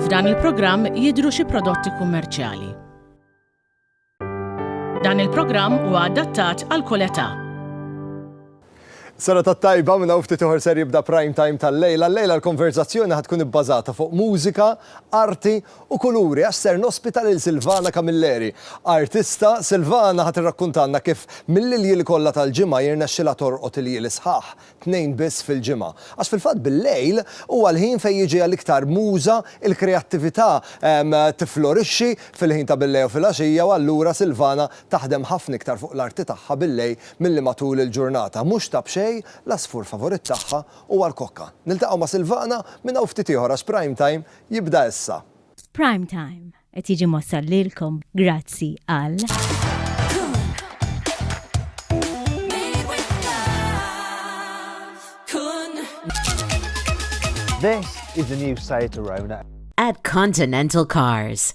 F'dan il-programm jidhru xi prodotti kummerċjali. Dan il-programm huwa adattat għal kull età. Sena ta' tajba minna ufti tuħor ser jibda prime time tal-lejla. L-lejla l-konverzazzjoni ħatkun ibbażata fuq mużika, arti u kuluri għax ser nospita lil Silvana Camilleri, artista, Silvana ħa tirrakkuntalna kif mill-iljieli kollha tal-ġimgħa jirnexxilha torqod iljieli sħaħ, tnejn biss fil-ġimgħa. Għax fil-fatt bil-lejl huwa l-ħin fejn jiġiha l-iktar muża, il-kreattività tifflorixxi fil-ħin ta' bil-lejl u filgħaxija u allura Silvana taħdem ħafna iktar fuq l-arti tagħha bil-lejl milli matul il-ġurnata. Mhux ta' b'xejn, l-għasfur favorit tagħha huwa l-kokka. Niltaqgħu ma' Silvana minn hawn ftit ieħor għax Prime Time jibda issa. Prime Time qed jiġi mwassal lilkom grazzi għal. This is the new site around it. At Continental Cars.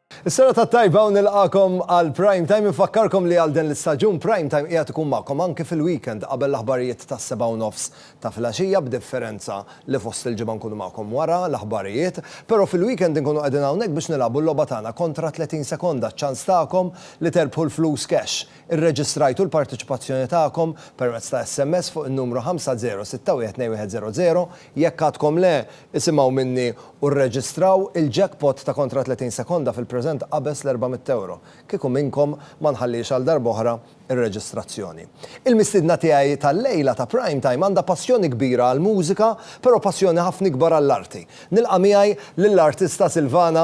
Is-serata t-tajba u nilqagħkom għal Prime Time. Infakkarkom li għal den l-istaġun Prime Time qiegħed ikun magħkom anki fil-weekend qabel l-aħbarijiet tas-sebgħa u nofs ta' filgħaxija b'differenza li fost il-ġimgħa nkunu magħkom wara l-aħbarijiet. Però fil-weekend inkunu qegħdin hawnhekk biex nilagħbu l-logħba tagħna kontra 30 sekonda, ċ-ċans tagħkom li terbħu l-flus cash. Irreġistrajtu l-parteċipazzjoni tagħkom permezz ta' SMS fuq in-numru 50612100? Jekk għadkom le, isimgħu minni u rreġistraw il-jackpot ta' kontra 30 sekonda fil-preżent qabeż l-€400. Kieku minnkom ma nħalliex għal darb'oħra r-reġistrazzjoni. Il-mistiedna tiegħi tal-lejla ta' Prime Time għandha passjoni kbira għall-mużika, però passjoni ħafna ikbar għall-arti. Nilqa' miegħi lill-artista Silvana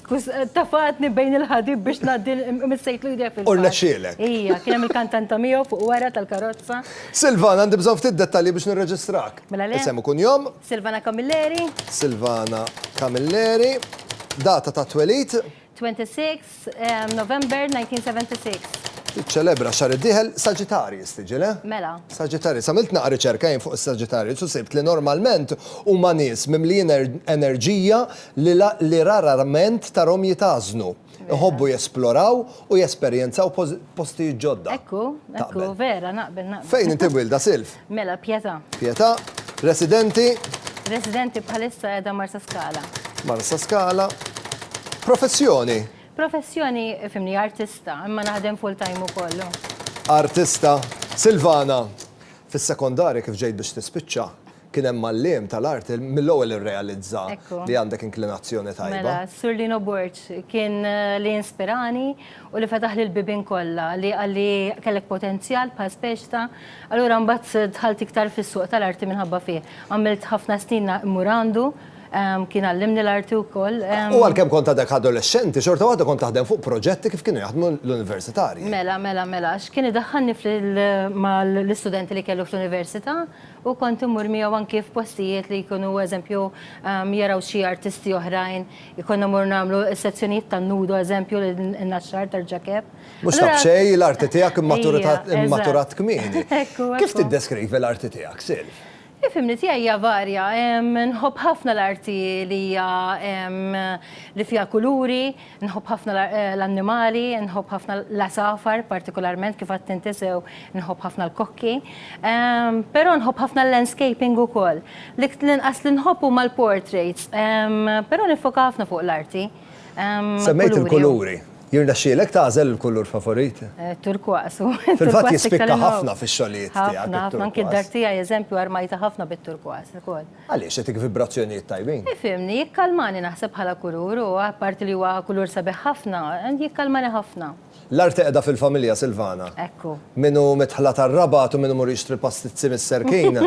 Tafgħatni bejn il-ħadid biex ngħaddi missejtlu jdejja fil-fatt. U rnexxielek. Ija, kien hemm il-kantanta miegħu fuq wara tal-karozza. Silvana, għandi bżonn ftit dettalji biex nirreġistrak. Mela le. Isem u kunjom. Silvana Camilleri. Silvana Camilleri. Data tat-twelid? 26 November 1976. Tiċċelebra x-xahar id-dieħel Sagittarius tiġi, le? Mela. Sagittarius. Għamilt naqra riċerka jien fuq is-Sagittarius u sibt li normalment huma nies mimlijin enerġija, li rararment tarhom jitgħażnu, iħobbu jesploraw u jesperjenzaw postijiet ġodda. Ekku, ekku, vera, naqbel, naqbel. Fejn inti mwielda, Silv? Mela, Pietà. Pietà. Residenti? Residenti bħalissa qiegħda Marsaskala. Marsaskala. Professjoni? Professjoni, fhimni, artista, imma naħdem full-time ukoll. Artista. Silvana, fis-sekondarja kif ġejt biex tispiċċa, Kien hemm mgħalliem tal-art li mill-ewwel irrealizza li għandek inklinazzjoni tajba. Mela, Sur Lino Borg kien li inspirani u li fetaħli l-bibien kollha, li qalli kellek potenzjal bħal Speċta. Allura mbagħad dħalt iktar fis-suq tal-arti minħabba fih. Għamilt ħafna snin immur għandu, kien għallimni l-arti wkoll. U għalkemm kont għadek adolexxenti, xorta waħda kont taħdem fuq proġetti kif kienu jaħdmu l-universitarji. Mela, mela, mela, għax kien idaħħalni mal-istudenti li kellu fl-università, U kont immur miegħu anki f'postijiet li jkunu eżempju jaraw xi artisti oħrajn, konna mmorru nagħmlu s-sezzjonijiet tan-nudo eżempju li nnaxxar tarġakeb. Mhux ta' b'xejn, l-arti tiegħek immaturat kmieni. Kif tiddeskrivi l-arti tiegħek, Silv? Il-fehmni tiegħi hija varja. Nħobb ħafna l-arti li hija li fiha kuluri, Nħobb ħafna l-annimali, nħobb ħafna l-għasafar partikolarment kif għedt inti sew, nħobb ħafna l-kokki. Però nħobb ħafna l-landscaping ukoll. L-inqas li nħobb huma l-portraits, però niffoka ħafna fuq l-arti. Semmejt il-kuluri. Jirnexxielek tagħżel il-kulur favorit? Turquoise hu. Fil-fatt jispikka ħafna fix-xogħlijiet tiegħek. Ħafna, ħafna. Anki d-dar tiegħi, eżempju, armajtha ħafna bit-turquoise ukoll. Għaliex, jagħtik vibrazzjonijiet tajbin. Ifhimni, jikkalmani naħseb bħala kulur u apparti li huwa kulur sabiħ ħafna, jikkalmani ħafna. L-art qiegħda fil-familja, Silvana. Ekku. Min hu midħla tar-Rabat u min imur jixtri pastizzi mis-Serkin.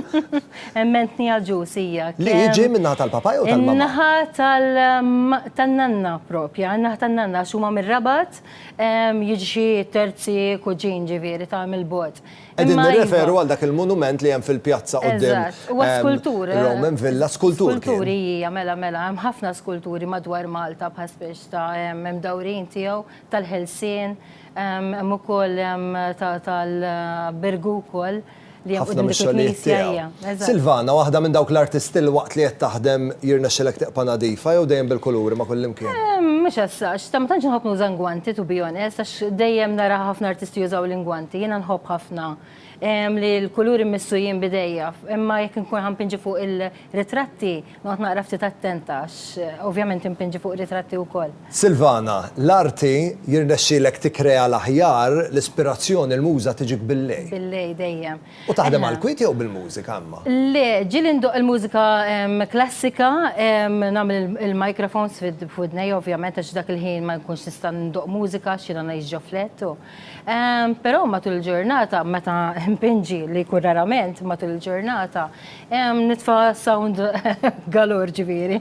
Emmentni għal ġus hija. Li jiġi min-naħa tal-papa jew tal-mamma? In-naħa tan-nanna proprja, in-naħa tan-nanna għax huma mir-Rabat, jiġi xi terzi kuġin ġifieri ta' mill-bogħod. Qegħdin nirreferu għal dak il-monument li hemm fil-pjazza quddiem. Eżatt, huwa skultur. Roman Villa, skultur. Skulturi hija, mela, mela, hemm ħafna skulturi madwar Malta bħal speċi ta' hemm imdawrin tiegħu tal-ħelsien, hemm ukoll hemm tal-Birgu wkoll li hemm quddiem dik il-knisja hija. Silvana, waħda minn dawk l-artisti li waqt li qed taħdem jirnexxilek tibqa' nadifa jew dejjem bil-kuluri ma' kullimkien? Mhux as such. Ta' ma tantx inħobb nuża ngwanti to be honest għax dejjem nara ħafna artisti jużaw l-ingwanti. Jiena nħobb ħafna li l-kuluri mmissu jien b'idejja. Imma jekk inkun ħa npinġi fuq il-ritratti, noqgħod naqra ftit attenta għax ovvjament inpinġi fuq ritratti wkoll. Silvana, l-arti jirnexxilek tikkrea l-aħjar, l-ispirazzjoni, l-muża tiġik billej? Billej dejjem. U taħdem għall-kwiet jew bil-mużika imma? Le, ġieli ndoqq il-mużika klassika, nagħmel il-microphones f'widnejja ovvjament għax dak il-ħin ma nkunx nista' ndoqq mużika għax jiena ngħix ġo flett u. Però matul il-ġurnata meta npinġi li jkun rarament matul il-ġurnata, nitfa' sound galore ġifieri.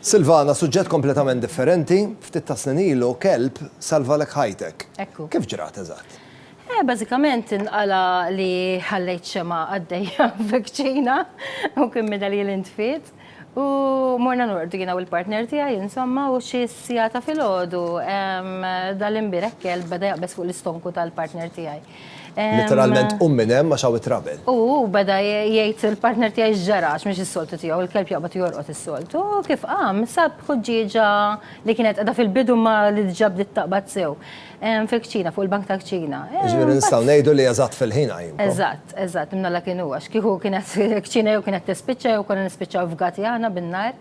Silvana, suġġett kompletament differenti, ftit ta' snin ilu kelb salvalek ħajtek. Ekku. Kif ġrat eżatt? Eh, bażikament inqala li ħallejt xema għaddejja f'kċina u kien minna li l-intfit. U morna nordu jiena u l-partner tiegħi insomma u xi sijata fil-ħodu dal-imbirek kelb beda jaqbes fuq l-istonku tal-partner tiegħi. Litteralment qum minn hemm għax hawn it-trabel. U hu beda jgħid il-partner tiegħi x'ġara għax mhix is-soltu tiegħu, il-kelb joqbad u jorqod is-soltu, u kif qam sab ħuġġieġa li kienet qiegħda fil-bidu imma li diġà bdiet taqbad sew fil-kċina, fuq il-bank tal-kċina. Jiġifieri nistgħu ngħidu li eżatt fil-ħin qajjimkom. Eżatt, eżatt, imnalla kien hu għax kieku kienet il-kċina jew kienet tispiċċa jew konna nispiċċaw fgati aħna bin-nar.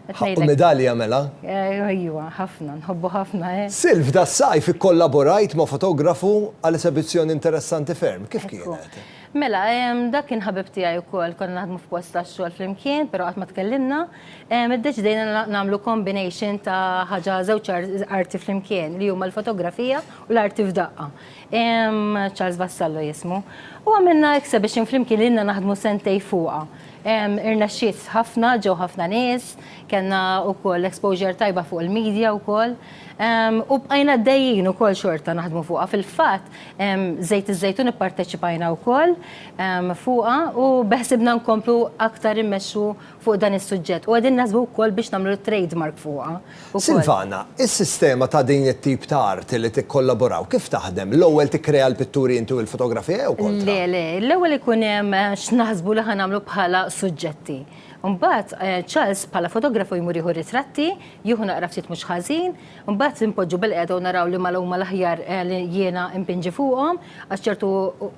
Ħaqqu midali jagħmilha. Ejwa, ħafna, nħobbu ħafna, eh. Silv, das-sajf ikkollaborajt ma' fotografu għal esebizzjoni interessanti ferm. Kif kienet? Mela, dak kien ħabib tiegħi wkoll, konna naħdmu f'post tax-xogħol flimkien, però qatt ma tkellimna. Iddeċidejna nagħmlu combination ta' ħaġa żewġ arti flimkien li huma l-fotografija u l-arti f'daqqa. Charles Vassallo jismu. U għamilna exhibition flimkien li ilna naħdmu sentejn fuqha. Irnexxiet ħafna, ġew ħafna nies, kellna wkoll exposure tajba fuq il-media wkoll. U bqajna għaddejjin ukoll xorta naħdmu fuqha. Fil-fatt, Żejt iż-Żejtun ipparteċipajna wkoll fuqha u beħsiebna nkomplu aktar immexxu fuq dan is-suġġett. U qegħdin naħsbu wkoll biex nagħmlu trade mark fuqha. Silvana, is-sistema ta' din it-tip ta' arti li tikkollaboraw kif taħdem? L-ewwel tikkrea l-pitturi inti u l-fotografija jew kontra? Le, le, l-ewwel ikun hemm x'naħsbu li ħa nagħmlu bħala suġġetti. Imbagħad Charles bħala fotografu jmur jieħu ritratti, jieħu naqra ftit mhux ħażin, imbagħad inpoġġu bilqiegħda u naraw liema huma l-aħjar li jiena inpinġi fuqhom, Għax ċertu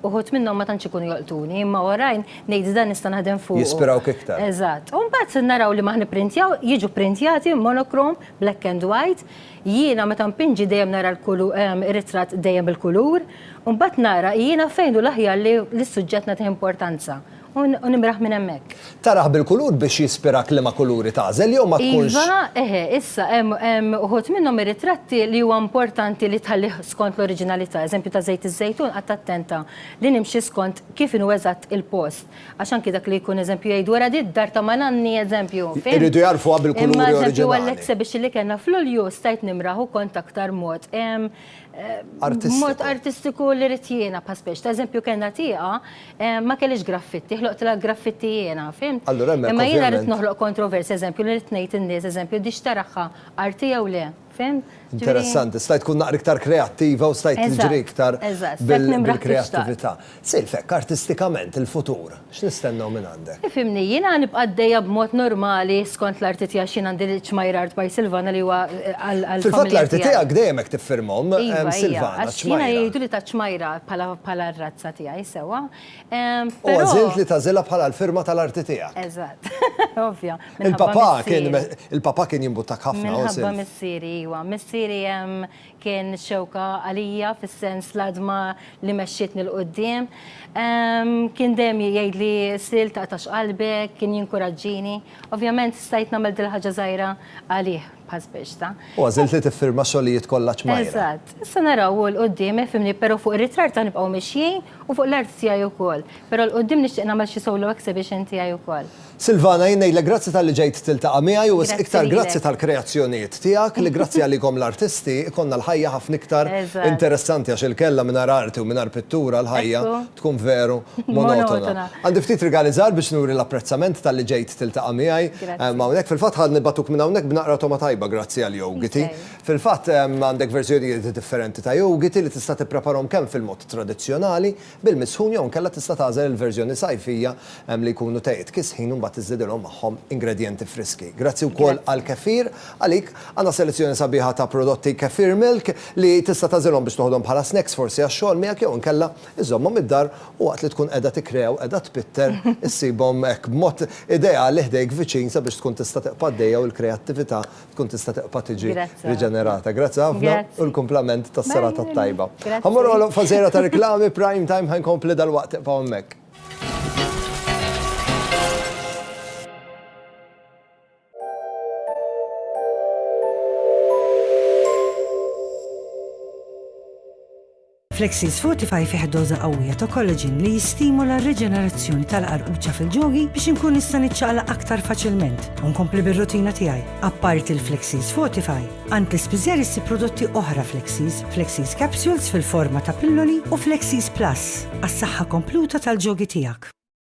uħud minnhom ma tantx ikunu jolqtuni, imma oħrajn ngħid dan nista' naħdem fuq. Jispirawk iktar. Eżatt. U mbagħad naraw li ma ħnipprintjaw, jiġu pprintjati monokrom, black and white. Jiena meta npinġi dejjem nara r-ritratt dejjem bil-kulur. U mbagħad nara jiena fejn hu l-aħjar li s-suġġett nagħtih importanza. U nimraħ minn hemmhekk. Tarah bil-kulur biex jispirak liema kuluri tagħżel jew ma tkunx. Iva, eħe, issa hemm uħud minnhom ir-ritratti li huwa importanti li tħallih skont l-oriġinalità. Eżempju ta' żejt iż-żejtun qatt attenta li nimxi skont kif inhu eżatt il-post. Għax anki dak li jkun eżempju jgħidu wara di d-dar ta' ma' nanni eżempju, fimt? Iridu jagħrfuha bil-kuluri oriġinali. Imma eżempju għall-exhibition li kellna f'Lulju stajt nimraħ u kont aktar mod. artistiku. Mod artistiku li rrit jiena pa' speċ. Ta' eżempju kellna tieqa ma kellix graffitti, ħloqt la graffitti jiena, fim? Allura hemmhekk. Imma jiena rrit noħloq kontrovers, eżempju, li rrit ngħid in-nies, eżempju, dix taraħħa arti jew le, fim? Interessanti, stajt tkun naqra iktar kreattiva u stajt tiġri iktar bil-kreattività. Sir, f'hekk artistikament il-futur, x'nistennew mingħandek? Ifhimni, jiena nibqa' għaddejja b'mod normali skont l-arti tiegħi għax jien għandi l-ċmajjar Art by Silvana li huwa għall-familja tiegħi. Fil-fatt l-arti tiegħek dejjem hekk tiffirmhom Silvana, ċmajra. Iva, iva, għax jiena jgħiduli taċ-ċmajra bħala r-razza tiegħi sewwa. U għażilt li tagħżilha bħala l-firma tal-arti tiegħek. Eżatt, ovvja. Il-papà kien il-papà kien jimbuttak ħafna, o Silv? Minħabba missieri, iva. Missieri Kien xewka għalija fis-sens l-għadma li mexxietni 'l quddiem. Kien dejjem jgħidli Sil taqtax qalbek, kien jinkuraġġini. Ovvjament stajt nagħmel dil-ħaġa żgħira għalih bħal sbieġta. U għażilt li tiffirma xogħlijiet kollha ċmajra. Eżatt. Issa naraw hu 'l quddiem, ifhimni, però fuq ir-ritratt ħanibqgħu mixjin u fuq l-art tiegħi wkoll. Però 'l quddiem nixtieq nagħmel xi solo exhibition tiegħi wkoll. Silvana, jien ngħidlek grazzi talli ġejt tiltaqa' miegħi u iktar grazzi tal-kreazzjonijiet tiegħek li grazzi għalikom l-artisti ikollna l-ħajja ħafna iktar interessanti għax il-kellha mingħajr arti u mingħajr pittura l-ħajja tkun veru monotona. Għandi ftit rigali żgħar biex nuri l-apprezzament talli ġejt tiltaqa' miegħi hawnhekk. Fil-fatt ħa nibgħatuk minn hawnhekk b'naqra togħma tajba grazzi għal Yogiti. Fil-fatt għandek verżjonijiet differenti ta' Yogiti li tista' tippreparhom kemm fil-mod tradizzjonali bil-misħun jew inkella tista' tagħżel il-verżjoni sajfija li jkunu tejjiet kisħin u mbagħad tiżdidilhom magħhom ingredjenti friski. Grazzi wkoll għall-kefir għalik. Għandna selezzjoni sabiħa ta' prodotti Kefir Milk li tista' tagħżilhom biex toħodhom bħala snacks forsi għax-xogħol miegħek jew inkella iżżommhom id-dar u waqt li tkun qiegħda tikkrea u qiegħda tpitter issibhom hekk b'mod ideali ħdejk viċin sabiex tkun tista' tiqpa' d-dejja u l-kreattività tkun tista' tibqa' tiġi riġenerata. Grazzi ħafna u l-kumplament tas-serata t-tajba. Ħa mmorru għal waqfa żgħira ta' riklami, prime time ħa nkompli dalwaqt tibqgħu hemmhekk. Flexis Fortify fih doża qawwija ta' collagen li jistimula r-riġenerazzjoni tal-qarquċċa fil-ġogi biex inkun nista' niċċaqlaq aktar faċilment u nkompli bir-rutina tiegħi. Apparti l-Flexis Fortify, għand l-ispiżer issib prodotti oħra Flexis, Flexis Capsules fil-forma ta' pilloli u Flexis Plus għas-saħħa kompluta tal-ġogi tiegħek.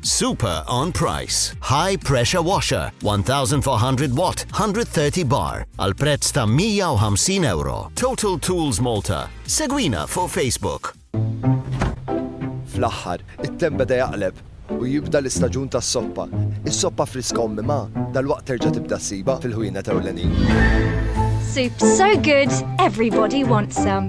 Super on price. High pressure washer 1400 watt 130 bar għal prezz ta' 150 euro. Total Tools Malta. Segwina fuq Facebook. Fl-aħħar, it-temp beda jaqleb u jibda l-istaġun tas-soppa. Is-soppa friska u mimgħa dalwaqt terġa' tibda ssibha fil-ħwienet ewlenin. Soups so good, everybody wants some.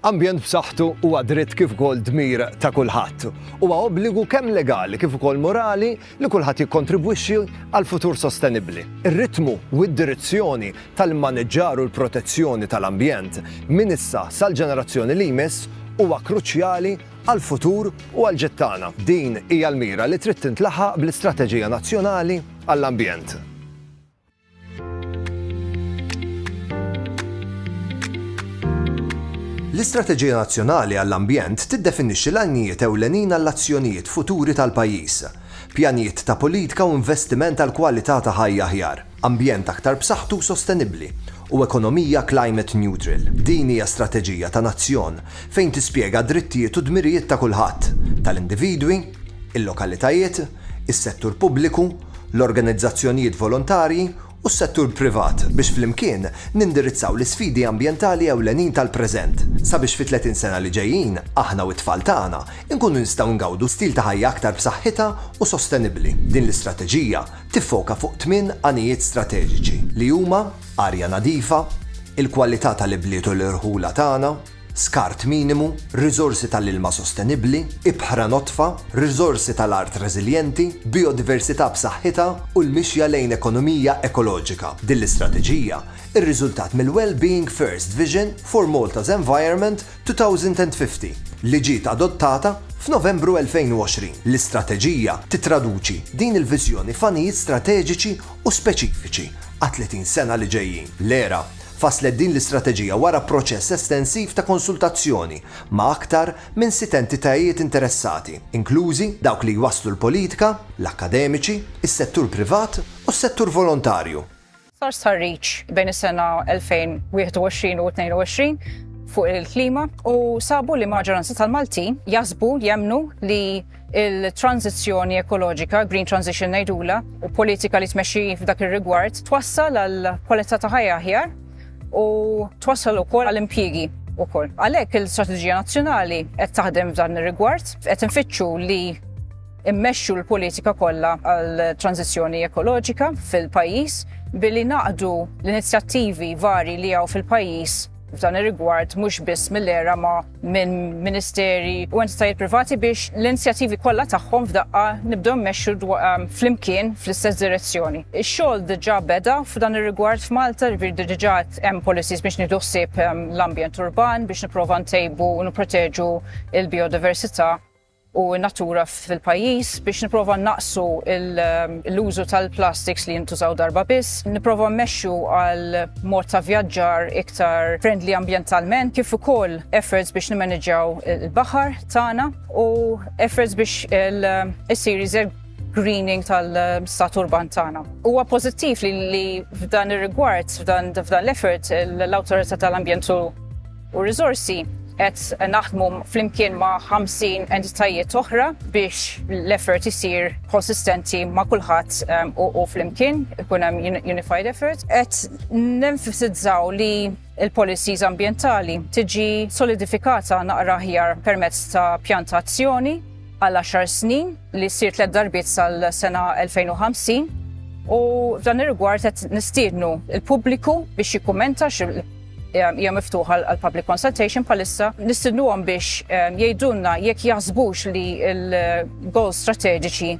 Ambjent b'saħħtu huwa dritt kif ukoll dmir ta' kulħadd. Huwa obbligu kemm legali kif ukoll morali li kulħadd jikkontribwixxi għal futur sostenibbli. Ir-ritmu u d-direzzjoni tal-immaniġġar u l-protezzjoni tal-ambjent minn issa sal-ġenerazzjoni li jmiss huwa kruċjali għall-futur u għall-ġid tagħna. Din hija l-mira li trid tintlaħaq bl-Istrateġija Nazzjonali għall-Ambjent. L-Istrateġija Nazzjonali għall-Ambjent tiddefinixxi l-għanijiet ewlenin għall-azzjonijiet futuri tal-pajjiż, pjanijiet ta' politika u investiment għal kwalità ta' ħajja aħjar, ambjent aktar b'saħħtu u sostenibbli, u ekonomija climate neutral. Din hija strateġija ta' nazzjon fejn tispjega d-drittijiet u d-dmirijiet ta' kulħadd, tal-individwi, il-lokalitajiet, is-settur pubbliku, l-organizzazzjonijiet volontarji u s-settur privat biex flimkien nindirizzaw l-isfidi ambjentali ewlenin tal-preżent sabiex fi 30 sena li ġejjin aħna u t-tfal tagħna nkunu nistgħu ngawdu stil ta' ħajja aktar b'saħħitha u sostenibbli. Din l-istrateġija tiffoka fuq tmien għanijiet strateġiċi li huma, arja nadifa, il-kwalità tal-ibliet u l-irħula tagħna, skart minimu, riżorsi ta' l-ilma sostenibbli, ibħra nodfa, riżorsi ta' l-art reżiljenti, bijodiversità b'saħħitha u l-mixja lejn ekonomija ekoloġika. Din l-istrateġija rriżultat mill-Wellbeing First Vision for Malta's Environment 2050 li ġiet adottata f'Novembru 2020. L-istrateġija tittraduċi din il-viżjoni f'għanijiet strateġiċi u speċifiċi għat-30 sena li ġejjin. L-era. Fasslet din l-istrateġija wara proċess estensiv ta' konsultazzjoni ma' aktar minn sitt entitajiet interessati, inklużi dawk li jwasslu l-politika, l-akkademiċi, is-settur privat u s-settur volontarju. Sar stħarriġ bejn is-sena 2021 u 22 fuq il-klima u sabu li maġġoranza tal-Maltin jaħsbu, jemmnu li, il-tranżizzjoni ekoloġika, green transition ngħidula, u politika li tmexxi f'dak ir-rigward twassal għal kwalità ta' ħajja aħjar u twassal ukoll għal impjiegi ukoll. Għalhekk il-Strateġija Nazzjonali qed taħdem f'dan ir-rigward, qed infittxu li immexxu l-politika kollha għal tranzizzjoni ekoloġika fil-pajjiż billi naqdu l-inizjattivi vari li hawn fil-pajjiż f'dan ir-rigward mhux biss mill-ERA ma minn ministeri u entitajiet privati biex l-inizjattivi kollha tagħhom f'daqqa nibdew mmexxu ehm, flimkien fl-istess direzzjoni. Ix-xogħol diġà beda f'dan ir-rigward f'Malta, jiġifieri diġà hemm policies biex nieħdu ħsieb ehm, l-ambjent urban biex nipprova ntejbu u nipproteġu l-biodiversità u n-natura fil-pajjiż biex nipprova nnaqqsu l-użu tal-plastiks li jintużaw darba biss, nipprova mmexxu għal mod ta' vjaġġar iktar friendly ambjentalment kif ukoll efforts biex nimmaniġġjaw il-baħar tagħna u efforts biex issir iżjed greening tal-stat urban tagħna. Huwa pożittiv li f'dan ir-rigward, f'dan l-effort, l-Awtorità tal-Ambjent u u riżorsi. Qed naħdmu flimkien ma' 50 entitajiet oħra biex l-effort isir konsistenti ma' kulħadd u flimkien, ikun hemm unified effort. Qed nenfisizzaw li l-policies ambjentali tiġi solidifikata naqra aħjar permezz ta' pjan ta' azzjoni għal għaxar snin li ssir tliet darbiet sal-sena 2050 u f'dan ir-rigward qed nistiednu l-pubbliku biex jikkummenta hija miftuħa għal public consultation bħalissa nistidnuhom biex ehm, jgħidulna jekk jaħsbux li l-goal strateġiċi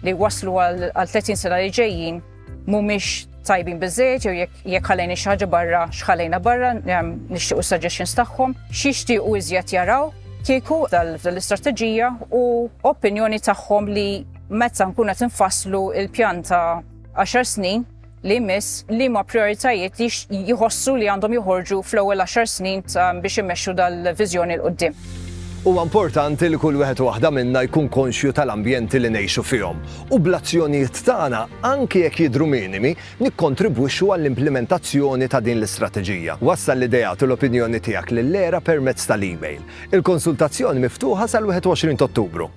li waslu għal 30 sena li ġejjin mhumiex tajbin biżejjed jew jekk ħalejni xi ħaġa barra x'ħalejna barra ehm, nixtiequ suggestions tagħhom, x'jixtiequ iżjed jaraw kieku dal-istrateġija u opinjoni tagħhom li meta nkun qed infasslu il-pjanta 10 snin li jmiss liema prijoritajiet jħossu li għandhom joħorġu fl-ewwel għaxar snin biex imexxu dal-viżjoni 'l quddiem. Huwa importanti li kull wieħed u waħda minna jkun konxju tal-ambjenti li ngħixu fihom u bl-azzjonijiet tagħna, anki jekk jidhru minimi, nikkontribwixxu għall-implimentazzjoni ta' din l-istrateġija. Wassal l-ideat u l-opinjoni tiegħek lill-ERA permezz tal-email. Il-konsultazzjoni miftuħa sal-21 t'Ottubru.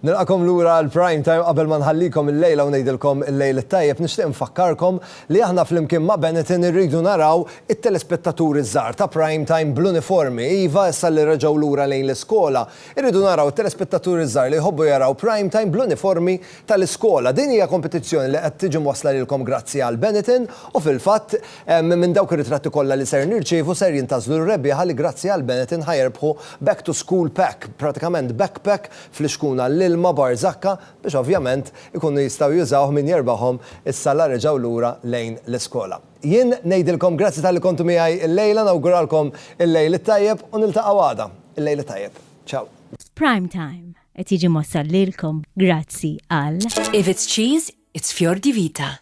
Nilqakom lura għal prime time qabel ma nħallikom il-lejla u ngħidilkom il-lejl it-tajjeb nixtieq nfakkarkom li aħna flimkien ma' Benetton irridu naraw it-telespettaturi żgħar ta' prime time bl-uniformi. Iva, issa li reġgħu lura lejn l-iskola, irridu naraw it-telespettaturi żgħar li jħobbu jaraw prime time bl-uniformi tal-iskola. Din hija kompetizzjoni li qed tiġi mwassla lilkom grazzi għal Benetton u fil-fatt Minn dawk ir-ritratti kollha li ser nirċievu ser jintgħażlu r-rebbieħa li grazzi għal Benetton ħa jerbħu Back to School Pack, pratikament backpack flixkun għall-ilma Barzakka biex ovvjament ikunu jistgħu jużawh min jerbaħhom issa la reġgħu lura lejn l-iskola. Jien ngħidilkom grazzi talli kontu miegħi illejla, nawguralkom il-lejl it-tajjeb u niltaqgħu għada. Il-lejl it-tajjeb. Ciao. Prime Time qed jiġi mwassal lilkom grazzi għal. If it's cheese, it's Fior di Vita.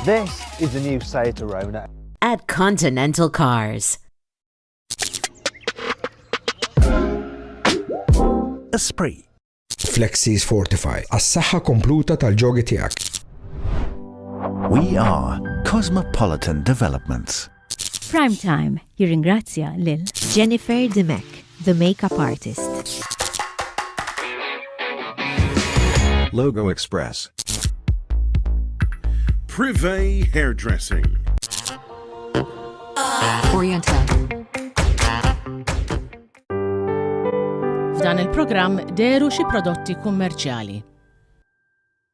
This is the new Seat Arona. At Continental Cars. Esprit. Flexis Fortify, għas-saħħa kompluta tal-ġogi tiegħek. We are Cosmopolitan Developments. Prime Time jirringrazzja lil Jennifer Dimech, the makeup artist. Logo Express. Privé Hairdressing. Oriental. F'dan il-programm deru xi prodotti kummerċjali.